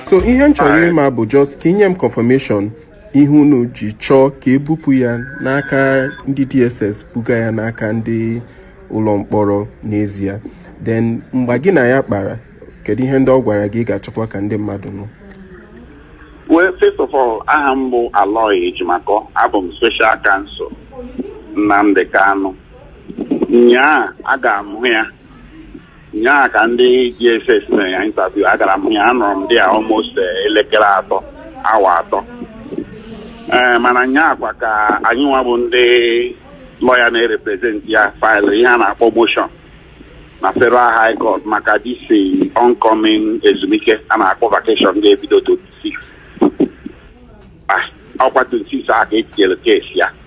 so ihe m chọrọ ịma bụ just ka i nye m confirmation ihe unu ji chọọ ka e bupụ ya n'aka ndị DSS buga ya n'aka ndị ụlọ mkpọrọ n'ezie then mgbe gị na ya kpara kedu ihe ndị ọ gwara gị ị ga-achọkwa ka ndị mmadụ nụ well first of all aha m bụ Aloy Ejimakor abụ m special counsel Nnamdi Kanu nyaa agara m hụ ya nyaa ka ndị DSS mere ya interview agara m hụ ya anọrọ m there almost eh, elekere atọ awa atọ ee mana nyaa kwa ka anyị nwa bụ ndị lawyer na-erepresent ya file ihe a na-akpọ motion na federal high court maka this eh, oncoming ezumike a na-akpọ vacation ga-ebido 26 Ah, ọ bụkwa 26 a ka e tinyere case ya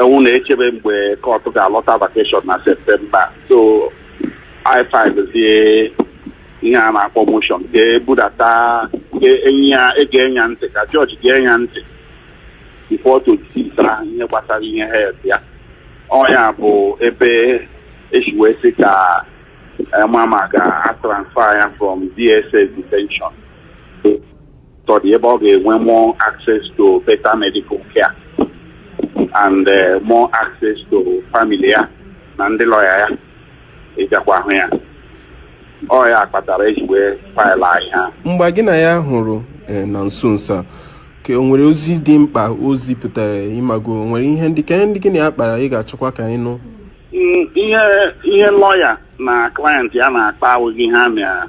ewu na-echebe mgbe court ga-alọta vacation na September so i filezie ihe a na-akpọ motion ga-ebudata ga-enye ya ntị ka judge ga-enye ya ntị before 26 ahụ ihe gbasara ihe health ya ọ ya bụ ebe e si wee sị ka a ma ma a ga-atransfer ya from DSS detention to the ebe ọ ga-enwe more access to better medical care and eh, more access to family ya na ndị lawyer ya ịjakwa ahụ ya ọ ya kpatara e ji wee file anyị ha mgbe gị na ya hụrụ eh, na nso nso a ka o nwere ozi dị mkpa o zipụtara ị mago o nwere ihe ndị ka ihe ndị gị na ya kpara ị ga-achọkwa ka anyị nụ Mm, ihe ihe lawyer na client ya na-akpa awụghị ihe a na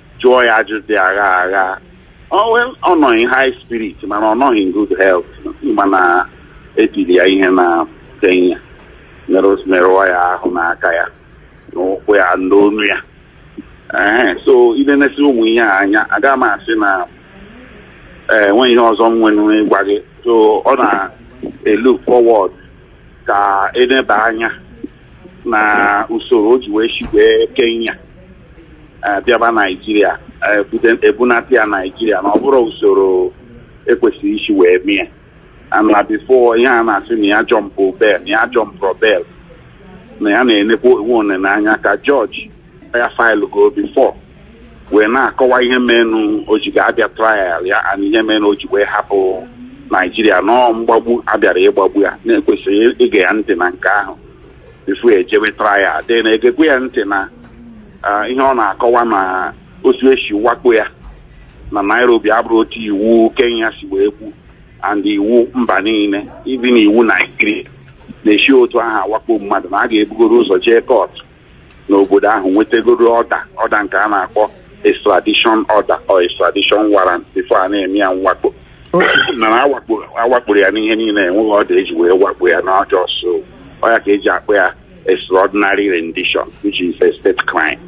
jụọ ya ajụjụ dị aghaa aghaa ọ nọ in high spirit mana ọ nọghị in good health mana e tiri ya ihe na Kenya merụọ ya ahụ n'aka ya na ụkwụ ya na onu ya ee so i nenesi ụmụ ihe a anya aga m asị na enwe ihe ọzọ m nwere ịgwa gị so ọ na-elook forward ka e neba anya na usoro o ji wee si wee Kenya eh, bịaba Naijiria eh, bute- ebunata ya Naijiria na ọ bụrọ usoro e kwesịrị isi wee mie na before ihe a na-asị na ya jumpụ bail na ya ajumpụrọ bail na ya na-enekwa onwe one n'anya ka judge ya faịlụgo before wee na-akọwa ihe menụ o ji ga-abịa trial ya and ihe menụ o ji wee hapụ naijiria na ọ mgbagbu abịara ịgbagbu ya na ekwesịrị ige ya ntị na nke ahụ before ejewe trial then egekwuo ya ntị na ah, ihe ọ na-akọwa na otu esi wakpo ya na nairobi abụrụ otu iwu kenya si wee kwu and iwu mba niile even iwu naijiria na-esi otu ahụ awakpo mmadụ na a ga-ebugoro ụzọ jee kọtụ n'obodo ahụ nwetagoro ọda ọda nke a na-akpọ extradition order or extradition warrant before a na-eme ya mwakpo mana awakpo- awakporo ya n'ihe niile enweghị ọda eji wee wakpo ya n'ọjọọ so ọ ya ka eji akpọ ya extraordinary rendition which is a state crime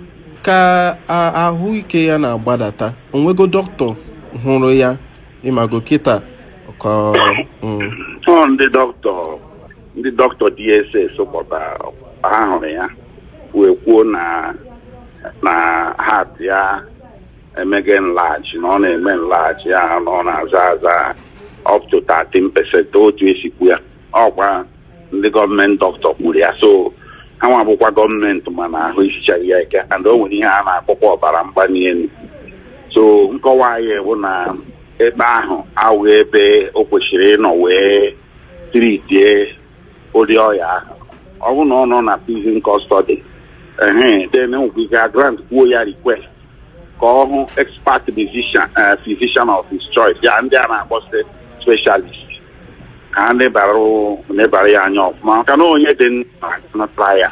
ka a- ahụike ya na-agbadata onwego dọkịta hụrụ ya ịmago kịta ka mm, ọ ndị dọkịta ndị dọkịta DSS kpọtara hụrụ ya wee kwuo na na heart ya emege enlarge na ọ na-eme enlarge and na ọ na-aza aza up to 13 percent otu esi kwu ya ọkwa ndị gọọmenti dọkịta kwuru ya so ha nwa bụkwa gọọmenti ma na ahụ isichaghị ya ike and o nwere ihe a na-akpọkwa ọbara mgbali elu so nkọwa anyị bụ na ebe ahụ awụ ebe o kwesịrị ịnọ wee tritie ụdị ọya ahụ ọ bụrụ na ọ nọ na prison custody ehe then enwekwa ike agrant kwuo ya request ka ọ hụ expert physician eh, physician of his choice ya ndị a na-akpọsị specialist ka ha nebara nebara ya anya ọfụma maka na onye dị ndụ na trial